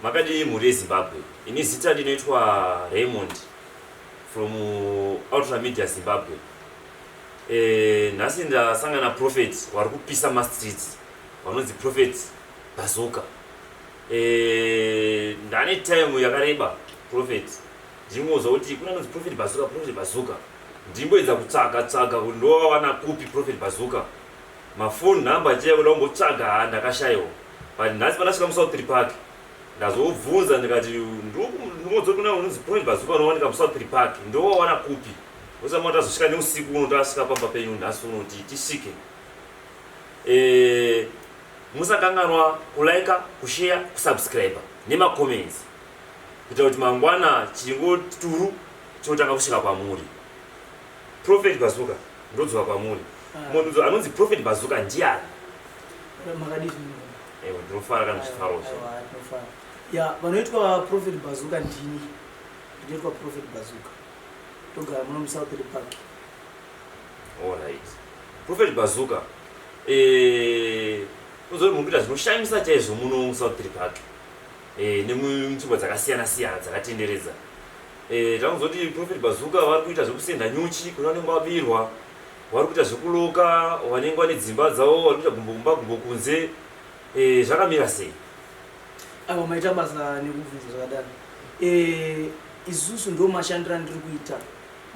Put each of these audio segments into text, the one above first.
Makadii mhuri yeZimbabwe ini zita ndinoitwa Raymond from Ultra Media Zimbabwe eh, nhasi ndasangana prophet wari kupisa mastreets vanonzi prophet Bazoka eh, ndane time yakareba prophet ndingonzwa kuti kuna nonzi prophet Bazoka prophet Bazoka ndimboedza kutsvaga tsvaga kuti ndovawana kupi prophet Bazoka Ma phone number achiya kuda kumbotsvaga haa ndakashaiwa but nhasi pandasvika mu Southpiri Park ndazobvunza ndikati ndimodzori kuna unonzi Point Bazuka unowanika mu Southpiri Park ndowawana kupi osamwa tazosvika neusiku uno tasvika pamba penyu nhasi unoti tisvike eh musakanganwa kulaika kusheya kusubscribe nemacomments kuitira kuti mangwana chingo turu chinotanga kusvika kwamuri Prophet Bazooka ndodzoka kwamuri. Ah. Munhu anonzi Prophet Bazooka ndiani? Makadii zvinhu? Ewe ndinofara kana zvifaro zvo. Ndinofara. Ya, vanoitwa Prophet Bazooka ndini. Ndinoitwa Prophet Bazooka. Togara muno mu South Park. All right. Prophet Bazooka. Eh, uzori mukuita zvinoshamisa chaizvo muno mu South Park. Eh, nemunzvimbo dzakasiyana siyana dzakatenderedza. Eh, takuzoti prophet bazuka vari kuita zvekusenda nyuchi kune vanenge vabirwa vari kuita zvekuloka vanenge vane dzimba dzavo vari kuita gumbo kumba gumbo kunze eh, zvakamira sei ava maita basa nekubvunza zvakadaro eh, isusu ndo mashandiro andiri kuita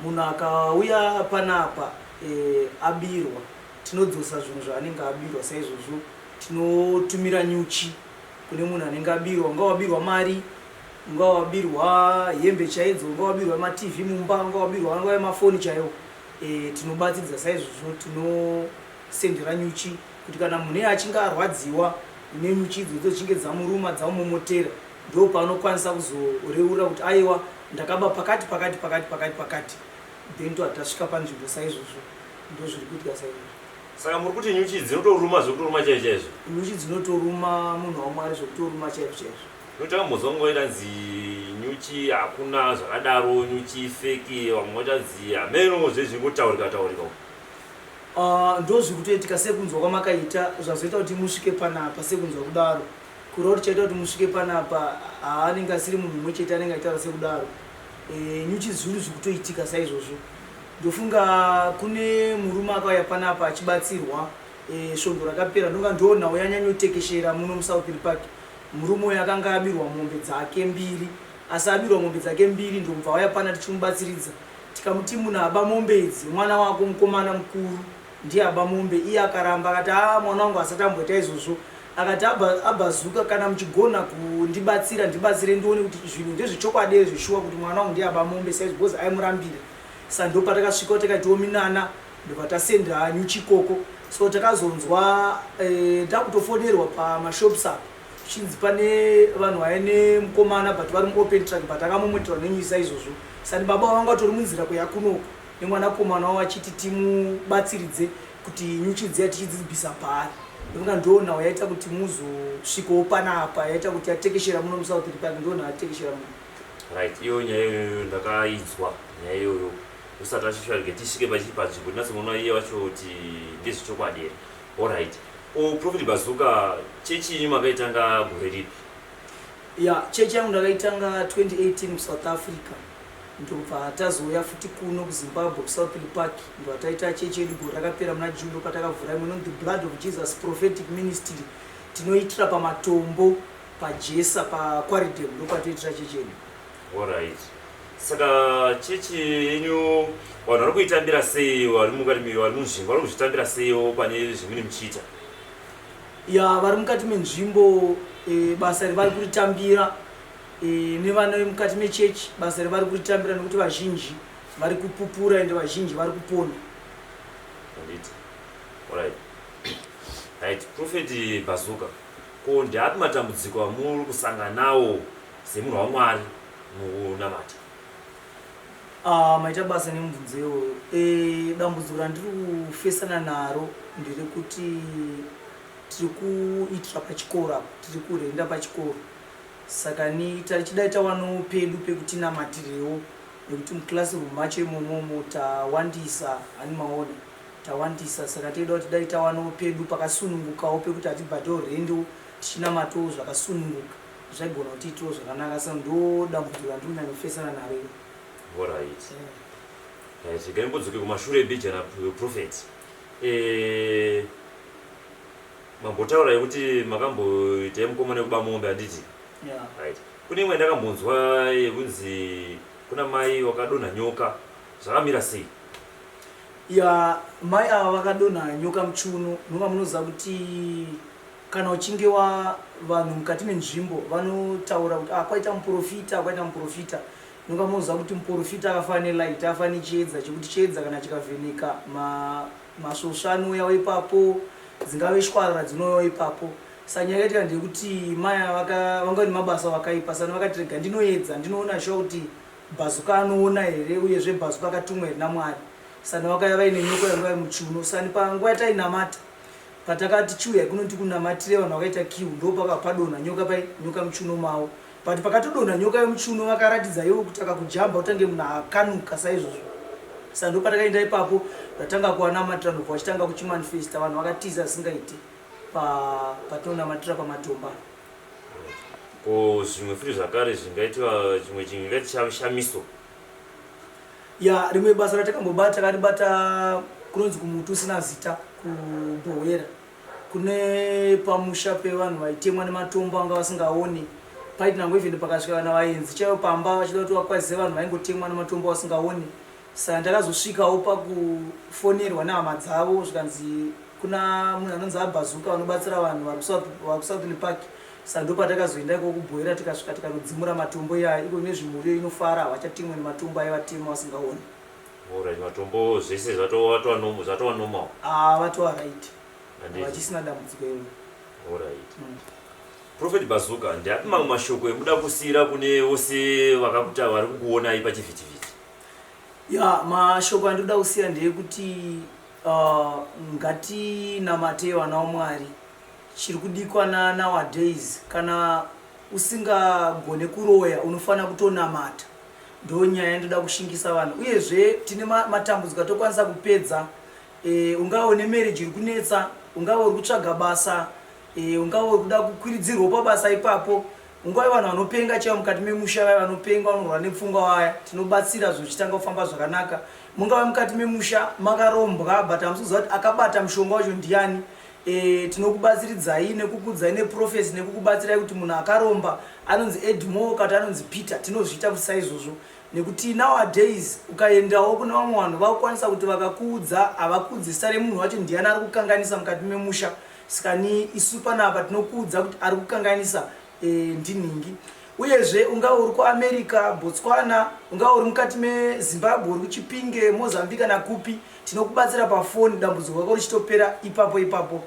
munhu akauya panapa eh, abirwa tinodzosa zvinhu zvaanenge abirwa saizvozvo tinotumira nyuchi kune munhu anenge abirwa ungawabirwa mari Ungawabirwa hembe chaidzo, ungawabirwa maTV mumba, ungawabirwa angave mafoni chaiwo. Eh, tinobatsiridza saizvozvo tinosendera nyuchi kuti kana munhu iye achinge arwadziwa nenyuchi idzo dzochinge dzamuruma dzamumomotera ndo paanokwanisa kuzoreurira kuti aiwa ndakaba pakati pakati pakati pakati pakati then to atasvika panzvimbo saizvozvo ndo zviri kuitika saizvozvo. Saka muri kuti nyuchi dzinotoruma zvekutoruma chaizvo chaizvo? Nyuchi dzinotoruma munhu waMwari zvekutoruma chaizvo chaizvo. Ndotakambodzwa nguva itanzi nyuchi hakuna zvakadaro nyuchi feki vamwe vatanzi hameno zvezvingotaurika taurika uko ah, ndozvi kutoitika sekunzwa kwamakaita zvazoita kuti musvike panapa sekunzwa kudaro kureva kuti chaita kuti musvike panapa haanenge asiri munhu umwe chete anenge aitaura sekudaro eh, nyuchi zvinhu zvikutoitika saizvozvo ndofunga kune murume akauya panapa achibatsirwa eh, svondo rakapera ndonga ndoo nhau yanyanyotekeshera muno musouth park Murume uyu akanga abirwa mombe dzake mbiri asi abirwa mombe dzake mbiri ndomubva auya pana tichimubatsiridza tikamuti muna aba mombe idzi mwana wako mukomana mukuru ndiye aba mombe iye akaramba akati aa mwana wangu asati amboita izvozvo akati abhazuka kana muchigona kundibatsira ndibatsire ndione kuti zvinhu ndezvechokwadi ere zveshuwa kuti mwana wangu ndiye aba mombe saizvo bcoz aimurambira sandopatakasvika kuti kaitiwo minana ndobva tasenda nyuchi ikoko so takazonzwa eh, takutofonerwa pamashops apo zvichinzi pane vanhu vaye nemukomana but vari muopen track but akamomweterwa nenyisa izvozvo sani baba vanga vatori munzira kweya kunoko nemwanakomana wavo achiti timubatsiridze kuti nyuchi dziya tichidzibvisa paari ndofunga ndoo nhau yaita kuti muzosvikawo panapa yaita kuti yatekeshera muno musouth republic ndoo nhau yatekeshera muno right iyo nyaya iyoyo ndakaidzwa nyaya iyoyo usati vachishora rega tisvike pachii panzvimbo tinatsomuona iye wacho kuti ndezvechokwadi here allright o profit bazuka chechi yenyu makaitanga gore ripi ya chechi yangu ndakaitanga 2018 kusouth africa ndobva tazouya futi kuno kuzimbabwe kusouthly park ndobva taita chechi yedu gore rakapera muna june ndopatakavhura imwe inonzi blood of jesus prophetic ministry tinoitira pamatombo pajesa pakwaridem ndopatoitira chechi yedu Alright. Saka chechi yenyu vanhu vari kuitambira sei vari mukati me- vari munzvimbo vari kuzvitambira seiwo pane zvimune muchiita? ya vari mukati menzvimbo eh, basa revari kuritambira eh, nevana vemukati mechechi basa revari kuritambira nekuti vazhinji vari kupupura ende vazhinji vari kupona Handiti? Alright. Right. Prophet Bazuka. Ko ndeapi matambudziko amuri kusangana nawo Semunhu waMwari mukunamata. Ah, maita basa nemubvunzo iwoyo. Eh, dambudziko randiri kufesana naro ndiri kuti tiri kuitira pachikoro apa, tiri kurenda pachikoro. Saka ni tachidai tawanawo pedu pekutinamatirewo nekuti muclassroom macho imomomo tawandisa ani maona tawandisa saka toida kuti dai tawanawo pedu pakasunungukawo pekuti hatibhatawo rendo tichinamatawo zvakasununguka zvaigona kuti itiwo zvakanaka sa ndo dambudziko randiri kunyanya kufesana naro iri horait ait regai mbodzoke kumashure ebhija raprofet eh, mambotaura yekuti makamboita yemukoma nekuba mombe handiti ait kune imwe ndakambonzwa yekunzi kuna mai wakadonha nyoka zvakamira sei ya mai ava vakadonha nyoka muchuno nonga munoziva kuti Kana uchinge wa vanhu mukati menzvimbo vanotaura kuti ah kwaita muprofita kwaita muprofita nonga moziva kuti muprofita akafa nelight afa nechiedza chekuti chiedza kana chikavheneka ma masvosva anouyawo ipapo dzingave shwarara dzinouyawo ipapo sa nyaya yaitika ndeyekuti maya vanga ne mabasa vakaipa sani vakatirega ndinoedza ndinoona shuwa kuti bhazuka anoona here uyezve bhazuka akatumwa here namwari sani vakaya vaine nyoko yanga vari muchiuno sani panguva yatainamata Patakati chiuyai kuno ndikunamatire vanhu vakaita kiu ndopaka padonha nyoka pai nyoka muchuno mavo but pakatodonha nyoka yomuchuno vakaratidza yovo kuti akakujamba utange munhu akanuka saizvozvo sa ndopatakaenda ipapo ndatanga kuwanamatira ndobva vachitanga kuchimanifesta vanhu vakatiza asingaiti patinonamatira pa, pamatomba ko zvimwe futi zvakare zvingaitiva chimwe chinhu ingaiti shamiso Yaa rimwe basa ratakambobata takaribata kunonzi kumuti usina zita kuBhohwera kune pamusha pevanhu vaitemwa nematombo anga vasingaoni paiti nango even pakasvika kana vaenzi chaivo pamba vachida kuti vakwazise vanhu vaingotemwa nematombo vasingaoni saka ndakazosvikawo pakufonerwa nehama dzavo zvikanzi kuna munhu anonzi abhazuka vanobatsira vanhu vari kusouth lepaki Saka ndopatakazoenda iko kubhoira tikasvika tikanodzimura matombo iyaya iko ine zvimuriyo inofara havachatemwe nematombo ayo vatema vasingaone. Alright matombo zvese zvatova normal zvatova normal. Ah vatova right. Handiti? Havachisina dambudziko iro. Alright. Prophet Bazooka ndiapi mamwe mashoko emuda kusiyira kune vose vakakuta vari kukuonai pachivhitivhiti? Ya mashoko andinoda kusiya ndeyekuti uh, ngatinamatei vana waMwari Chiri kudikwana nowadays kana usingagone kuroya unofanira kutonamata ndonyaya yandoda kushingisa vanhu uyezve tine matambudziko atokwanisa kupedza e, ungava une marriage iri kunetsa ungava uri kutsvaga basa e, ungava uri kuda kukwiridzirwa pabasa ipapo ungava vanhu vanopenga chaivo mukati memusha vaya vanopenga vanorwara nepfungwa vaya tinobatsira zvichitanga kufamba zvakanaka mungava mukati memusha makarombwa but hamusi kuziva kuti akabata mushonga wacho ndiani E, tinokubatsiridzai nekukudzai neprofesi nekukubatsirai kuti munhu akaromba anonzi edmore kati anonzi peter tinozviita kuti saizvozvo nekuti nowadays ukaendawo kune vamwe vanhu vakukwanisa kuti vakakuudza havakuudzi zita remunhu wacho ndiyani ari kukanganisa mukati memusha saka ni isu panapa tinokuudza kuti ari kukanganisa e, ndinhingi uyezve unga uri kuamerica botswana unga uri mukati mezimbabwe uri kuchipinge mozambi kana kupi tinokubatsira pafoni dambudziko rako richitopera ipapo ipapo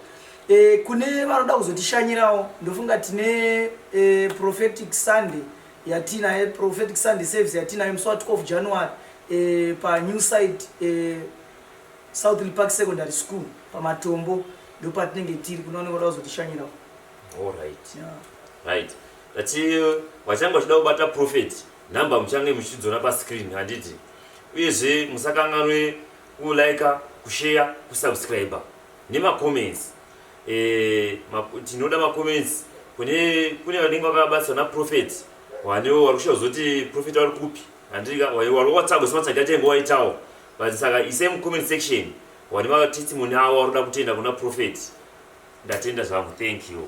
e, kune vanoda kuzotishanyirawo ndofunga tine e, prophetic sunday yatiinaye prophetic sunday service yatiinayo musi wa 12 january e, panew site e, southly park secondary school pamatombo ndopatinenge tiri kunooneka kuda kuzotishanyirawo All right. Yeah. Right. Tati vachange vachida kubata prophet number muchange muchidzona pascreen handiti uyezve musakanganwe kulika kushare kusubscribe nemacomments e, eh, ma, tinoda macomments kune kune vanenge vakabatsirwa naprofet wanewo wari kushaya zoti profet wari kupi handika wari watago sematsagati ainge waitawo but saka isame comment section Wani matestimony awo arikuda kutenda kuna prophet ndatenda zvangu thank you.